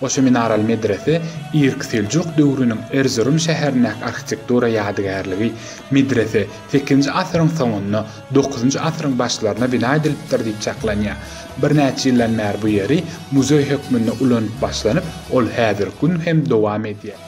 Goşa minaraly medrese irki seljuk döwrüniň Erzurum şäherindäki arhitektura ýadygärligi. Medrese sekizinji asyryň soňunda, dokuzynjy asyryň başlarynda bina edilipdir diýip çaklanýar. Birnäçe ýyldan bäri bu ýeri muzeý hökmünde ulanyp başlanyp, ol häzirki gün hem dowam edýär.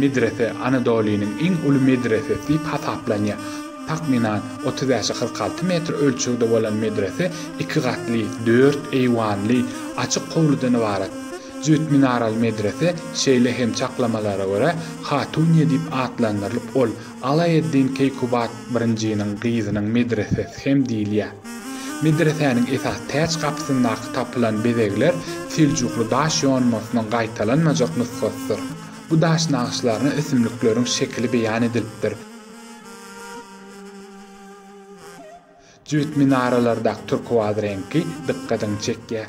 Medrese Anadolynyň iň uly medresesi diýip hasaplanýar. Takmynan otuz bäş-e kyrk alty metr ölçegde bolan medrese iki gatly, dört eýwanly, açyk howludan ybarat. Jübüt minaraly medrese, şeýle hem çaklamalara görä, Hatuniýe diýip atlandyrylyp, ol Alaeddin Keýkubat birinjiniň gyzynyň medresesi hem diýilýär. Medresäniň esas täç gapysyndaky tapylan bezegler seljukly daş ýonmasynyň gaýtalanmajak nusgasydyr. Bu daş nagyşlaryna ösümlikleriň şekili beýan edilipdir. Jübüt minaralardaky turkuaz reňki dykgatyňy çekýär.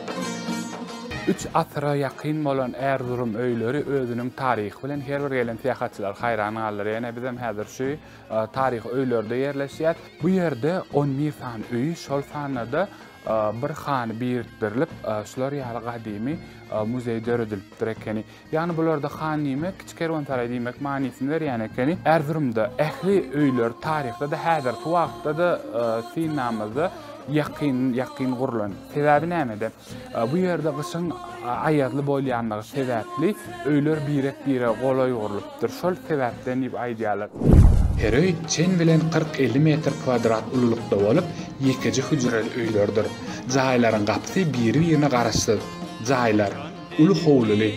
Üç asyra ýakyn bolan Erzurum öýleri özüniň taryhy bilen her bir gelen syýahatçylary haýran galdyrýar. Ýene bizem häzir şu taryhy öýlerde ýerleşýäs. Bu ýerde on bir sany öýi, şol sanda-da bir hany birikdirilip, şular ýaly gadymy muzeý döredilipdir ekeni. Ýagny bularda han diýmek kiçi kerwensaraý diýmek manysyny berýän ekeni. Erzurumda ähli öýler taryhda-da, häzirki wagtda-da synamyzda ýakyn ýakyn gurlan. Sebäbi nämede? Bu ýerde gyşyň aýazly bolýandygy sebäpli öýler birek bire golaý gurlupdyr. Şol sebäpden diýip aýdýarlar. Her öý çen bilen kyrk-elli metr kwadrat ululykda bolup, ýekeje hüjreli öýlerdir. Jaýlaryň gapysy biri-birine garaşsyz. Jaýlar. uly howluly,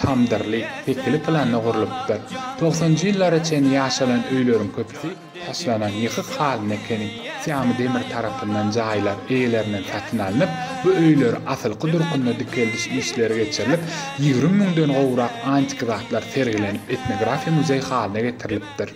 tamdyrly, pekili planda gurlupdyr. Togsanjy ýyllara çenli ýaşalan öýleriň köpüsi taşlanan ýykyk halynda ekeni. Syýamy demir tarapyndan jaýlar eýelerinden satyn alnyp, bu öýleri asylky durkunda dikeldiş işleri geçirilip, ýigrimi müňden gowrak antiki zatlar sergilenip, etnografiýa muzeý halyna getirilipdir.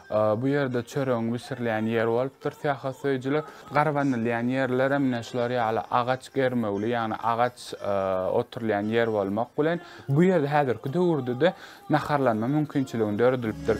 Bu ýerde çöregiň bişirilýän ýeri bolupdyr syýahatsöýüjiler. Garbanylýan ýerler hem ine şular ýaly agaç germewli, ýagny agaç oturylýan ýer bolmak bilen, bu ýerde häzirki döwürde-de naharlanma mümkinçiligini döredilipdir.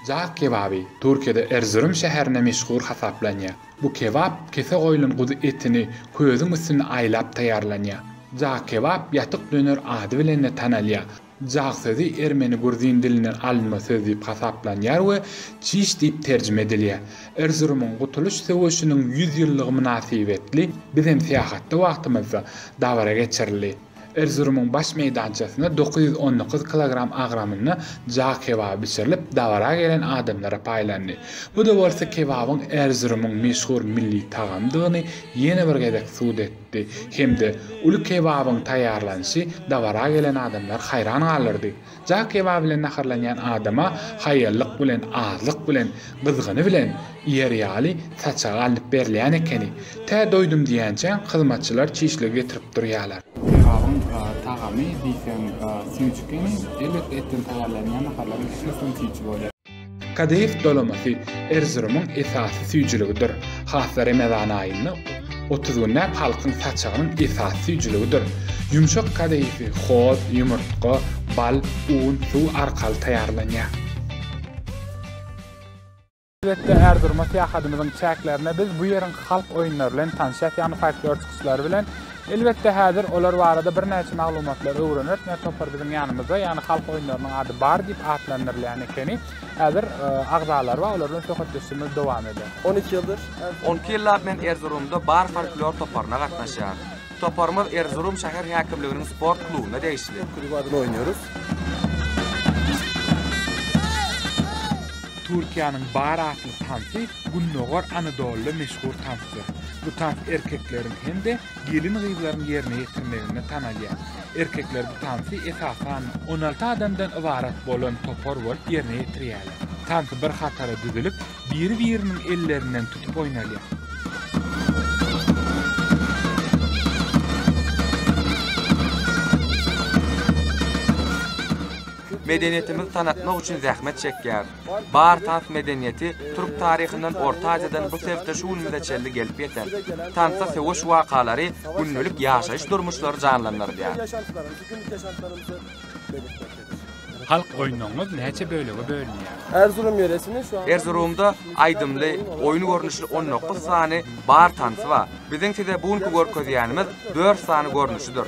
Jaz kebaby, Türkiýede Erzurum şäherinde meşhur hasaplanýar. Bu kebap kese goýlan guzy etini közüň üstünde aýlap taýýarlanýar. Jaz kebap, ýatyk döner ady bilen-de tanalýar. Jaz sözi ermeni-gruzin dilinden alynma söz diýip hasaplanýar we çiş diýip terjime edilýär. Erzurumyň Gutulyş söweşiniň ýüz ýyllygy mynasybetli bizem syýahatda wagtymyzda dabara geçirildi. Erzurumyň baş meýdançasynda dokuz ýüz on dokuz kilogram agramynda ja kebaby bişirilip, dabara gelen adamlara paýlandy. Bu-da bolsa kebabyň Erzurumyň meşhur milli tagamdygyny ýene bir gezek subut etdi hem-de uly kebabyň taýýarlanyşy dabara gelen adamlary haýran galdyrdy. Jaý kebap bilen naharlanýan adama haýallyk bilen, azlyk bilen, gyzgyny bilen iýer ýaly saçagy alnyp berilýän ekeni. Tä doýdum diýýänçäň, hyzmatçylar çişligi getirip durýarlar. Kebabyň tagamy diýseň süýji ekeni. Elbetde, etden taýýarlanýan naharlaryň ählisi hem süýji bolýar. Kadyýew dolamasy Erzurumyň esasy süýjüligidir. Hasda Remezan aýynda otuz günläp halkyň saçagynyň esasy süýjüligidir. Ýumşak kadyýewi hoz, ýumurtga, bal, un, suw arkaly taýýarlanýar. Elbetde Erzuruma syýahadymyzyň çäklerinde biz bu ýeriň halk oýunlary bilen tanşýas, ýagny folklor çykyşlary bilen. Elbetde häzir olar barada birnäçe maglumatlar öwreneris, ne topar biziň ýanymyzda, ýagny halk oýunlarynyň ady bar diýip atlandyrylýan ekeni. Häzir agzalary bar, olar bilen söhbetdeşligimiz dowam eder. On iki ýyldyr. On iki ýyllap men Erzurumda bar folklor toparyna gatnaşýan. Toparymyz Erzurum şäher häkimliginiň sport klubuna degişli. Klub adynda oýnarys. Türkiýäniň bar atly tansy Gündogar Anadoluda meşhur tansdyr. Bu tans erkekleriň hem-de gelin-gyzlaryň ýerine ýetirmeginde tanalýar. Erkekler bu tansy esasan on alty adamdan ybarat bolan topar bolup ýerine ýetirýärler. Tans bir hatara düzülip, biri-biriniň ellerinden tutup oýnalýar. Medeniýetimizi tanatmak üçin zähmet çekýär. Bar tans medeniýeti türk taryhyndan Orta Aziýadan bu sebte şu günümize çenli gelip ýeten. Tansda söweş wakalary, gündelik ýaşaýyş durmuşlary janlandyrylýar. Halk oýunlaryňyz näçe bölege bölünýär? Erzurum ýöresini şu an Erzurumda aýdymly, oýun görnüşli on dokuz sany bar tansy bar. Biziň size bu günki görkezýänimiz dört sany görnüşidir.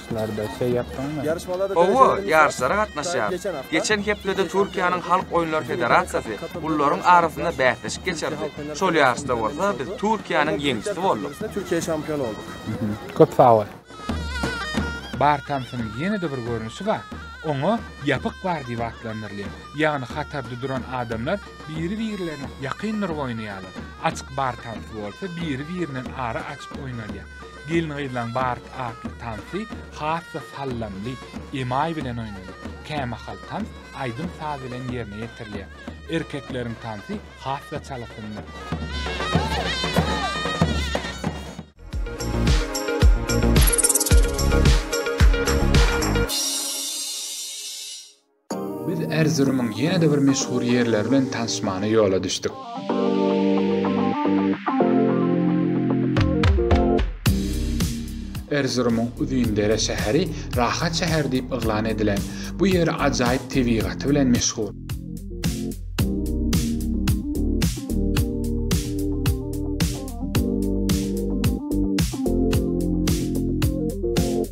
Ýaryşlarda şeý ýapdyňmy? Hawa, ýaryşlara gatnaşýarys. Geçen hepdede Türkiýäniň Halk oýunlary federasiýasy gullaryň arasynda bäsleşik geçirdi. Şol ýaryşda bolsa biz Türkiýäniň ýeňijisi bolduk. Türkiýe çampion bolduk. Köp sag bol. Bar tansynyň ýene-de bir görnüşi bar. Oňa ýapyk bar diýip atlandyrylýar. Ýagny hatarda duran adamlar biri-birlerine ýakyndyryp oýnaýarlar. Açyk bar tansy bolsa biri-birinden ara açyp oýnalýar. Gelin-gyzlaň bars atly tansy has-da sallamly emaý bilen oýnalýar. Kämahal tans aýdym-saz bilen ýerine ýetirilýär. Erkekleriň tansy has-da çalasynda. Biz Erzurumyň ýene-de bir meşhur ýerleri bilen tanyşmana ýola düşdük. Erzurumyň Uzindere şäheri rahat şäher diýip yglan edilen bu ýer ajaýyp tebigaty bilen meşhur.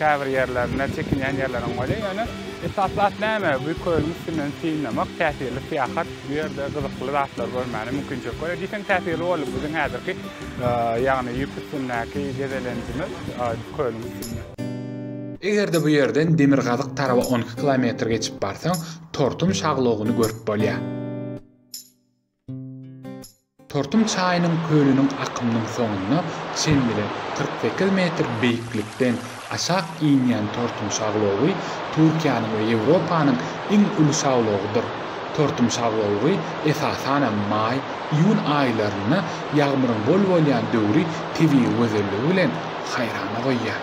Käbir ýerlerinde çekinýän ýerleriň bolýar, ýöne esasly at näme? Bu kölüň üstünden synlamak täsirli syýahat, bu ýerde gyzykly zatlary görmäne mümkinçilik berýär. Diýseň täsirli boldy biziň häzirki, ýagny ýüp üstündäki gezelenjimiz kölüň üstünde. Eger-de bu ýerden demirgazyk taraba on iki kilometr geçip barsaň, Tortum şaglogyny görüp bolýar. Turtum çaýynyň kölüniň akymynyň soňuna çenli kyrk sekiz metr beýiklikden aşak inýän Turtum şaglowy Türkiýäniň we Ýewropanyň iň uly şaglowydyr. Turtum şaglowy esasanam maý, iýun aýlarynda ýagmyryň bol bolýan döwri tebigy gözelligi bilen haýrana goýýar.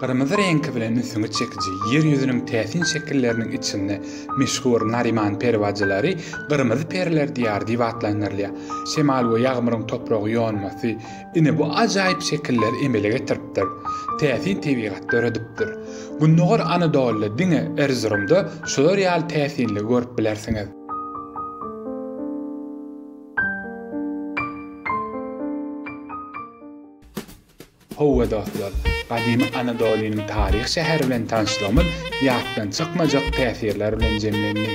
Gyrmyzy reňki bilen ünsüňi çekiji Ýer ýüzüniň täsin şekilleriniň içinde meşhur Nariman peri bajylary Gyrmyzy periler diýary diýip atlandyrylýar. Şemal we ýagmyryň topragy ýonmasy ine bu ajaýyp şekilleri emele getiripdir. Täsin tebigat döredipdir. Gündogar Anadolyda diňe Erzurumda şular ýaly täsinligi görüp bilersiňiz. Howwa dostlar, gadymy Anadolynyň taryhy şäheri bilen tanyşlygymyz ýatdan çykmajak täsirler bilen jemlendi.